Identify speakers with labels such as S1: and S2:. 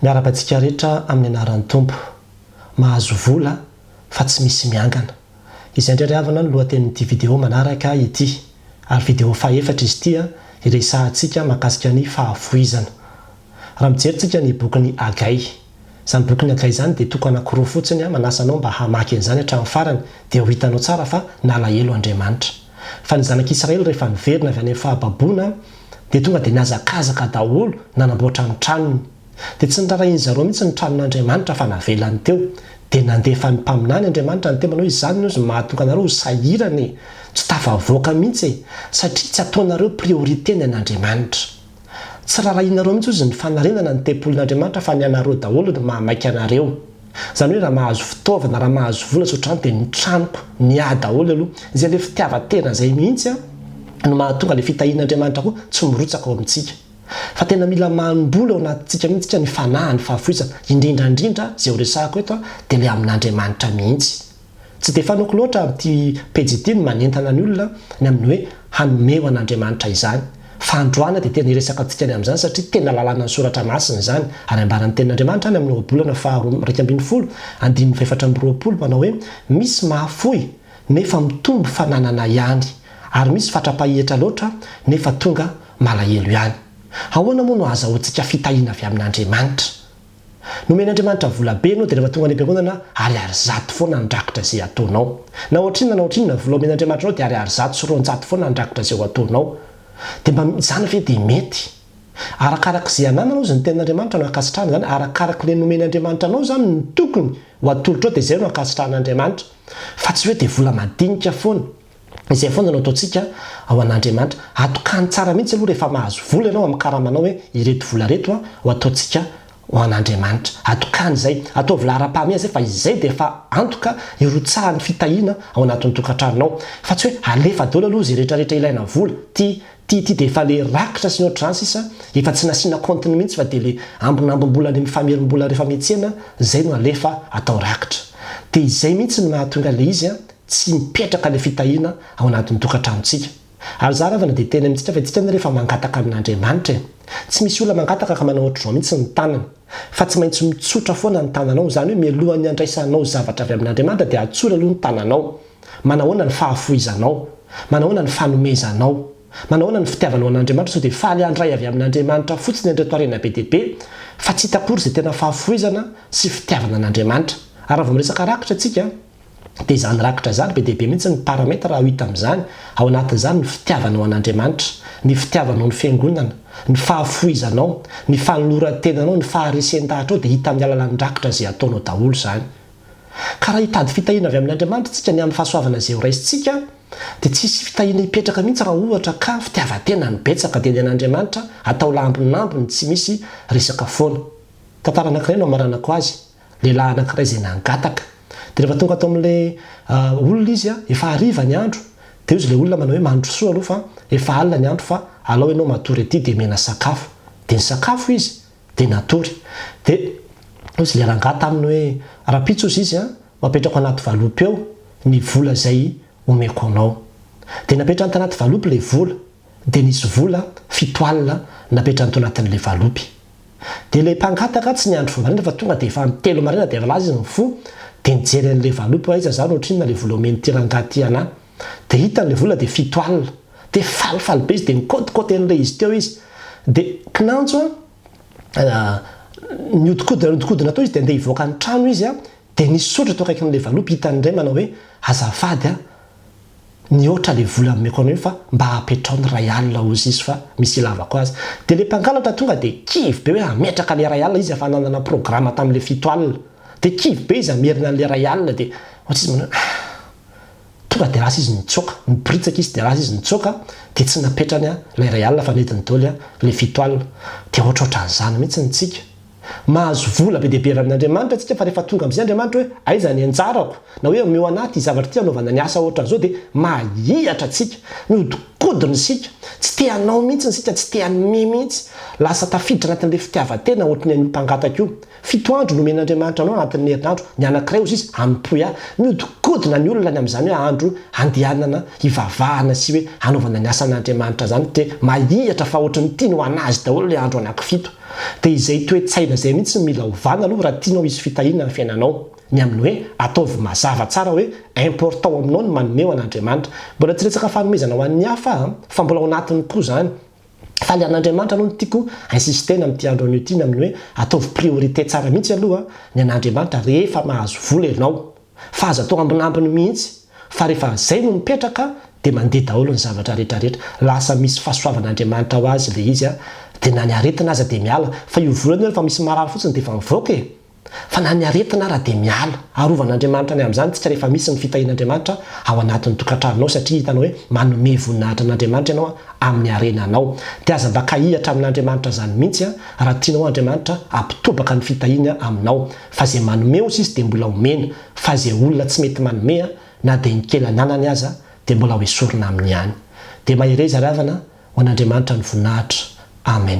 S1: Miaraba antsika rehetra amin'ny anaran'ny Tompo. Mahazo vola fa tsy misy miangana. Izay indray ry havana no lohatenin'ity video manaraka ity. Ary video fahefatra izy ity iresahantsika mahakasika ny fahafoizana. Raha mijery tsika ny bokin'i Hagay. Izany bokin'i Hagay izany dia toko anankiroa fotsiny manasa anao mba hamaky an'izany hatramin'ny farany dia ho hitanao tsara fa nalahelo Andriamanitra. Fa ny zanak'Israely rehefa niverina avy any amin'ny fahababoana dia tonga dia nihazakazaka daholo nanamboatra ny tranony. Dia tsy norarahian'i zareo mihitsy ny tranon'Andriamanitra fa navelany teo. Dia nandefa ny mpaminany Andriamanitra niteny manao hoe izany ny ozy no mahatonga anareo ho sahirana e! Tsy tafavoaka mihitsy e! Satria tsy ataonareo priorité ny an'Andriamanitra. Tsy rarahianareo mihitsy ozy ny fanarenana ny tempolin'Andriamanitra fa ny anareo daholo no mahamaika anareo. Izany hoe raha mahazo fitaovana, raha mahazo vola tsy ohatrany dia ny tranoko miahy daholo aloha. Izay ilay fitiavan-tena izay mihitsy no mahatonga ilay fitahian'Andriamanitra koa tsy mirotsaka ao amintsika. Fa tena mila manim-bola ao anatintsika mihitsy isika ny fanahy, ny fahafoizana. Indrindra indrindra izay horesahako eto dia ilay amin'Andriamanitra mihitsy. Tsy dia fanaoko loatra amin'ity pejy ity ny manentana ny olona ny amin'ny hoe hanome ho an'Andriamanitra izany. Fa androany dia tena hiresaka antsika ny amin'izany satria tena lalànan'ny soratra masina izany. Ary ambaran'ny tenin'Andriamanitra any amin'ny ohabolana faharoa iraika ambin'ny folo andininy fahefatra amby roapolo manao hoe misy mahafoy nefa mitombo fananana ihany ary misy fatra-pahetra loatra nefa tonga malahelo ihany. Ahoana moa no ahazahoantsika fitahiana avy amin'Andriamanitra? Nomen'Andriamanitra vola be ianao dia rehefa tonga any am-piangonana ariary zato foana handrakitra izay ataonao. Na ohatrinona na ohatrinona ny vola omen'Andriamanitra anao dia ariary zato sy roanjato foana handrakitra izay ho ataonao. Dia mba izany ve dia mety? Arakaraka izay anananao izy ny tenin'Andriamanitra no ankasitrahana izany, arakaraka ilay nomen'Andriamanitra anao izany no tokony ho atolotrao dia izay no ankasitrahan'Andriamanitra. Fa tsy hoe dia vola madinika foana. Izay foana no ataontsika ao an'Andriamanitra. Atokany tsara mihitsy aloha rehefa mahazo vola ianao amin'ny karamanao hoe ireto vola ireto ho ataontsika ho an'Andriamanitra. Atokany izay. Ataovy laharam-pahamehana izay fa izay dia efa antoka hirotsahan'ny fitahiana ao anatin'ny tokantranonao. Fa tsy hoe alefa daholo aloha izay rehetrarehetra ilaina vola. Ity, ity, ity dia efa ilay rakitra sy ny ohatran'izany sisa, efa tsy nasiana kaontiny mihitsy fa dia ilay ambinambim-bola any amin'ny famerim-bola rehefa miantsena izay no alefa atao rakitra. Dia izay mihitsy no mahatonga ilay izy Tsy mipetraka ilay fitahiana ao anatin'ny tokantranontsika. Ary izaho ravana dia teny amintsika fa isika ny rehefa mangataka amin'Andriamanitra e. Tsy misy olona mangataka ka manao ohatr'izao mihitsy ny tanany. Fa tsy maintsy mitsotra foana ny tananao, izany hoe mialohan'ny handraisanao zavatra avy amin'Andriamanitra dia atsory aloha ny tananao. Manahoana ny fahafohizanao? Manahoana ny fanomezanao? Manahoana ny fitiavanao an'Andriamanitra? Sao dia faly handray avy amin'Andriamanitra fotsiny an'ireto harena be dia be fa tsy hita akory izay tena fahafohizana sy fitiavana an'Andriamanitra? Ary raha vao miresaka rakitra isika, dia izany rakitra izany, be dia be mihitsy ny paramètre azo hita amin'izany, ao anatin'izany ny fitiavanao an'Andriamanitra, ny fitiavanao ny Fiangonana, ny fahafohizanao, ny fanoloran-tenanao, ny faharesen-dahatrao dia hita amin'ny alalan'ny rakitra izay ataonao daholo izany. Ka raha hitady fitahiana avy amin'Andriamanitra isika ny amin'ny fahasoavana izay horaisintsika dia tsy hisy fitahiana hipetraka mihitsy raha ohatra ka fitiavan-tena no betsaka dia ny an'Andriamanitra atao lambonambony tsy misy resaka foana. Tantara anankiray no hamaranako azy, Lehilahy anankiray izay nangataka. Dia rehefa tonga ato amin'ilay olona izy, efa hariva ny andro, dia hozy ilay olona manao hoe, Mandrosoa aloha fa efa alina ny andro fa alao ianao matory aty dia omena sakafo. Dia nisakafo izy, dia natory. Dia hozy ilay rangahy taminy hoe, Rahampitso hozy izy an, ho apetrako anaty valopy ao ny vola izay omeko anao. Dia napetrany tanaty valopy ilay vola. dia nisy vola fito alina napetrany tao anatin'ilay valopy. Dia ilay mpangataka tsy niandry vao maraina fa tonga dia efa amin'ny telo maraina dia avy laza izy mifoha dia nijery an'ilay valopy hoe aiza za no ohatrinona ilay vola omen'ity rangahy ity anah. Dia hitany ilay vola dia fito alina. Dia falifaly be izy dia nikaotikaoty an'ilay izy teo izy. Dia kinanjo an, nihodinkodina nihodinkodina tao izy dia andeha hivoaka ny trano izy an, Dia nisotro teo akaikin'ilay valopy, hitany indray manao hoe, azafady an, nihoatra ilay vola nomeko anao io fa mba apetraho ny iray alina hoy izy fa misy ilavako azy. Dia ilay mpangalatra tonga dia kivy be hoe hametraka ilay iray alina izy efa nanana programa tamin'ilay fito alina. Dia kivy be izy hamerina an'ilay iray alina dia ohatra izy manao hoe ah! Tonga dia lasa izy nitsoaka, niboritsaka izy dia lasa izy nitsoaka dia tsy napetrany ilay iray alina fa nentiny daholo ilay fito alina. Dia ohatrohatran'izany mihitsy ny tsika. Mahazo vola be dia be avy amin'Andriamanitra isika fa rehefa tonga amin'izay Andriamanitra hoe aiza ny anjarako na hoe omeo anah ity zavatra ity hanaovana ny asa ohatran'izao dia mahihatra isika, mihodinkodina isika, tsy te hanao mihitsy isika, tsy te hanome mihitsy. Lasa tafiditra anatin'ilay fitiavan-tena ohatry ny an'io mpangataka io. Fito andro no omen'Andriamanitra anao anatin'ny herinandro, ny anankiray hozy izy hanompoy ahy. Mihodinkodina ny olona ny amin'izany hoe andro handehanana hivavahana sy hoe hanaovana ny asan'Andriamanitra izany dia mahihatra fa ohatry ny tiany ho an'azy daholo ilay andro anankifito. Dia izay toe-tsaina izay mihitsy no mila ovana aloha raha tianao hisy fitahiana ny fiainanao. Ny amin'ny hoe ataovy mazava tsara hoe important aminao ny manome ho an'Andriamanitra. Mbola tsy resaka fanomezana ho an'ny hafa aho an, fa mbola ao anatiny koa izany. Faly an'Andriamanitra aloha no tiako insistena amin'ity andro anio ity ny amin'ny hoe ataovy priorité tsara mihitsy aloha ny an'Andriamanitra rehefa mahazo vola ianao. Fa aza atao ambinambiny mihitsy fa rehefa zay no mipetraka dia mandeha daholo ny zavatra rehetra rehetra, lasa misy fasoavan'Andriamanitra ho azy ilay izy a! dia na ny aretina aza dia miala, fa io volana io rehefa misy marary fotsiny dia efa mivoaka e! fa na ny aretina ara dia miala, arovan'Andriamanitra ny amin'izany tsika rehefa misy ny fitahian'Andriamanitra ao anatin'ny tokantranonao satria hitanao hoe manome voninahitra an'Andriamanitra ianao amin'ny harena anao, dia aza mba kahihatra amin'Andriamanitra zany mihitsy a! raha tianao Andriamanitra hampitobaka ny fitahiany aminao, Fa ze manome ozy izy de mbola omena fa ze olona tsy mety manome a na de ny kely ananany aza de mbola hoesorina aminy ihany. De mahereza ry havana ho an'Andriamanitra ny voninahitra. Amen.